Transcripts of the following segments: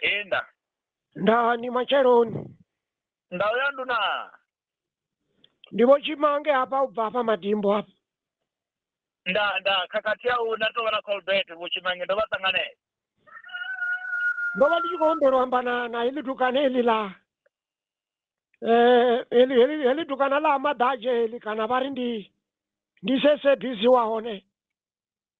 Inda. nda ni matsheloni Ndau ya nduna. ndi vho tshimange hafha u bva hafha madimbo hafha Nda nda khakhathi ya u na to vha na Colbert vho tshimange ndo vha ṱanganela. ndo vha ndi tshi khou humbela u amba na na heḽi dukana heḽi ḽa eh, heḽi heḽi heḽi dukana ḽa maḓadzhe heḽi kana vha ri ndi ndi sesebisi wa hone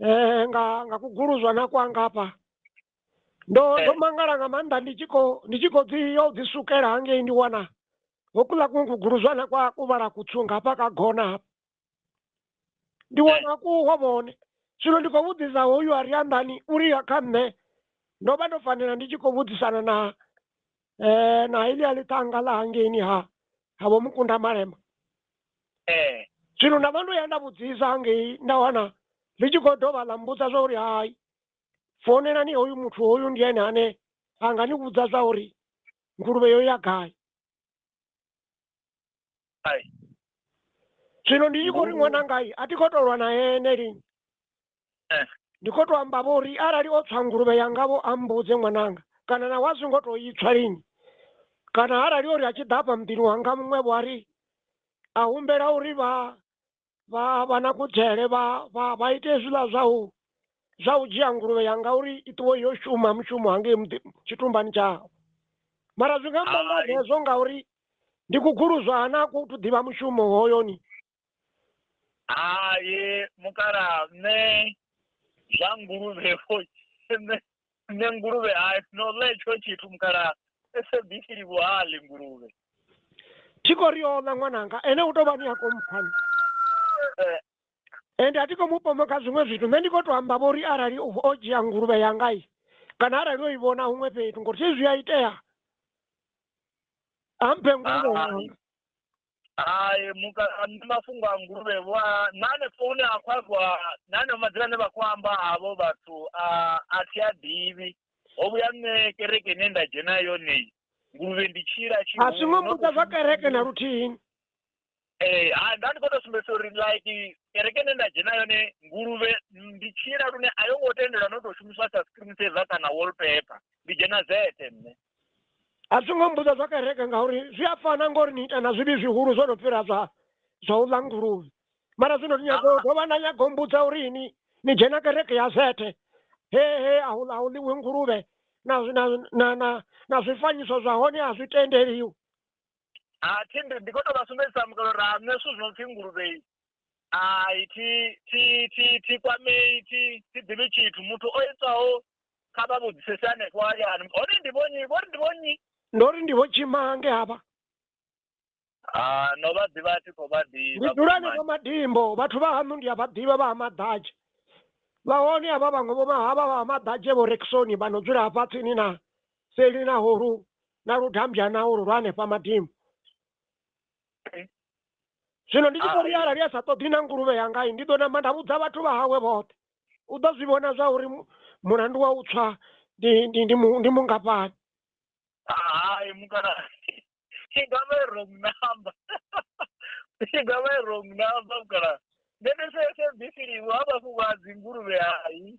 eh, nga nga kuguluzwana kwanga hafha ndo Eh. ndo mangala nga maanḓa ndi tshi khou ndi tshi khou dzi yo dzi sukela hangei ndi wana hokuḽa kuṅwe kuguluzwana kwa kuvhala kutsunga hafha ka gona hafha ndi wana kuho vhone zwino ndi khou vhudzisa hoyu a ri anḓani uri ya kha nṋe ndo vha ndo fanela ndi tshi khou vhudzisana na eh na hili a ḽi tanga ḽa hangeini ha ha vho mukunda malema eh zwino nda vha ndo ya nda vhudzisa hangei nda wana ḽi tshi khou dovha ḽa mbudza zwa uri hai founelani hoyu muthu hoyu ndi ene ane a nga ni vhudza zwa uri nguluvhe yo ya gai Ai. zwino ndi tshi khou ri Ngoho. ṅwanangai a thi khou tou lwa na ene lini Eh. ndi khou tou amba vho uri arali o tswa nguluvhe yanga vho a mbudze ṅwananga kana na wa zwi ngo tou itswa lini kana arali ori a tshi ḓa afha muḓini wanga muṅwe vho a ri a humbela uri vha vha vha na kudzhele vha vha vha ite hezwiḽa zwa u zwa u dzhia nguluvhe ya ngauri i ṱuwe yo shuma mushumo hangei tshitumbani tshawe mara zwi nga amba nga hezwo ngauri ndi kuguluzwa ha na ku tu ḓivha mushumo hoyoni hai mukala nṋe zwa nguluvhe Nṋe nguluvhe a no ḽa etsho tshithu mukalaha SABC livho ha ḽi nguluvhe. Thi khou ri o ḽa ṅwananga ene u tou vha ni a komphani. Eh, Ende a thi khou mu pomoka zwiṅwe zwithu nṋe ndi khou tou amba vho uri arali o o dzhia nguluvhe yanga i kana arali o i vhona huṅwe fhethu ngori thi zwi a itea a mphe nguluvhe Ah. yanga. hai muka nṋe mafhungo a nguluvhe vho a na hanefho hune ha khou ambiwa na haneo madzina ane vha khou amba havho vhathu a a thi a ḓivhi ho vhuya nṋe kereke ine nda dzhena yone nguluvhe ndi tshila a tshihulu si ngo mbudza zwa kereke na luthihi ee ha nda ndi khou tou sumbedzisa uri like kereke ine nda dzhena yone nguluvhe ndi tshila lune a yo ngo tendelwa no tou shumiswa sa screen saver kana wallpaper ndi dzhena zete nṋe a zwi ngo mbudza zwa kereke ngauri zwi a fana ngori ni ita na zwivhi zwihulu zwo no fhira zwa zwa u ḽa nguluvhe mara zwino ni nyago u dovha na nyago u mbudza uri ini ni dzhena kereke ya zethe he he a hu a hu ḽiwi nguluvhe na zwi- na na na na zwifanyiso zwa hone a zwi tendeliwi a thindi ndi khou tou vha sumbedzisa mukalo ra nṋe zwithu zwi no pfhi nguluvhe ai thi thi thi thi kwamei thi thi ḓivhi tshithu muthu o itwaho kha vha vhudzisese hanefho hayani hone ndi vho nnyi vho ri ndi vho nnyi ndo ri ndi vho tshimange havha Ah, no vha ḓivha thi khou vha ndi ḓivha dzula henefho Vhusimane. madimbo vhathu vha haṋu ndi a vha ḓivha vha ha maḓadzhe vha hone havha vhaṅwe vho mahavha vha ha maḓadzhe vho rekisoni vha no dzula hafha tsini na seli na horu na ludambya na ulu lwa hanefha madimbo zwino ndi tshi ḓo ri ah. arali a sa ṱoḓi na nguluvhe yangai ndi ḓo namba nda vhudza vhathu vha hawe vhoṱhe u ḓo zwi vhona zwa uri mulandu wa u tswa ndi mungafhani hai mukala i nga vha wrong number i nga vha wrong number mukala nṋe ndi sese bisi liwe ha vhafhu vha dzinguluvhe hai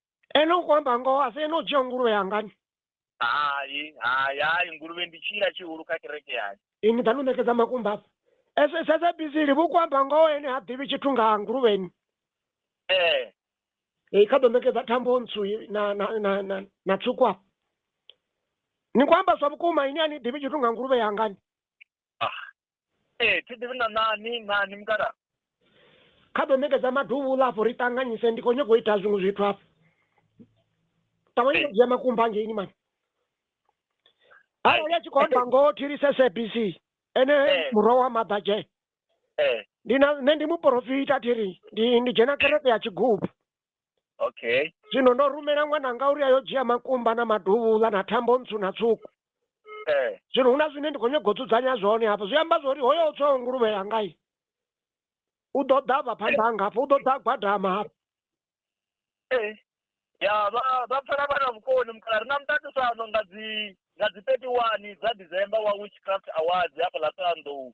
ene ukuamba ngoho asi ene udzhia nguluvhe yangani hai hai hai nguluvhe ndi tshila tshihulu kha kereke yani ini ḓa no ṋekedza makumba afha ese sedza bizili vhu kuamba ngoho ene ha ḓivhi tshithu nga nguluvheni ee i kha ḓo ṋekedza thambo ntsu i- na na na na, na tswuku afha ni khou amba zwa vhukuma ini a ni ḓivhi tshithu nga nguluvhe yangani ee thi ḓivhi na nani nani mukala kha ḓo ṋekedza maduvhula afho ri ṱanganyise ndi khou nyanga u ita zwiṅwe zwithu afho ṱavhanye u dzhia makumba angeini mani arali a tshi khou amba ngoho thilise sabc ene murwa wa maḓadzhe ndi na nṋe ndi muporofita thiri ndi ndi dzhena kereke ya tshigubu okay zwino ndo rumela ṅwananga uri ayo dzhia makumba na maduvhula na thambo ntswu na tswuku eh. zwino hu na zwine ndi khou nyaga u dzudzanya zwone hafha zwi amba zwori hoyo u tswaho nguluvhe yangai u ḓo ḓa vha phanḓa hanga hafha u ḓo ḓa gwadama hafha eh. ya vha vha pfela vha na vhukoni mukala ri na muṱaṱisano nga dzi nga dzi thirty one dza december wa witchcraft awards hafha ḽa thohoyandou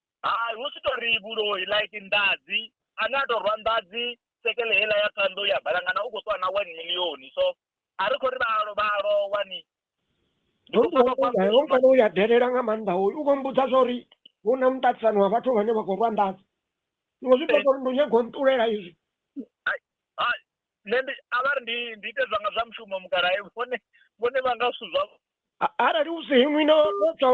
Hai hu si tou ri vhuloi like nḓadzi ane a tou rwa nḓadzi sekele heiḽa ya ṱhanḓou ya balangana u khou ṱuwa na one million so a ri khou ri vha vha lowa ni kana u ya delela nga maanḓa hoyu u khou mbudza zwa uri hu na muṱaṱisano wa vhathu vhane vha khou rwa nḓadzi zwiṅwe zwi ṱoḓa uri ndi nyago nṱulela izwi nṋe ndi a vha ri ndi ndi ite zwanga zwa mushumo mukalae vhone vhone vha nga zwithu zwavho arali u si inwi no no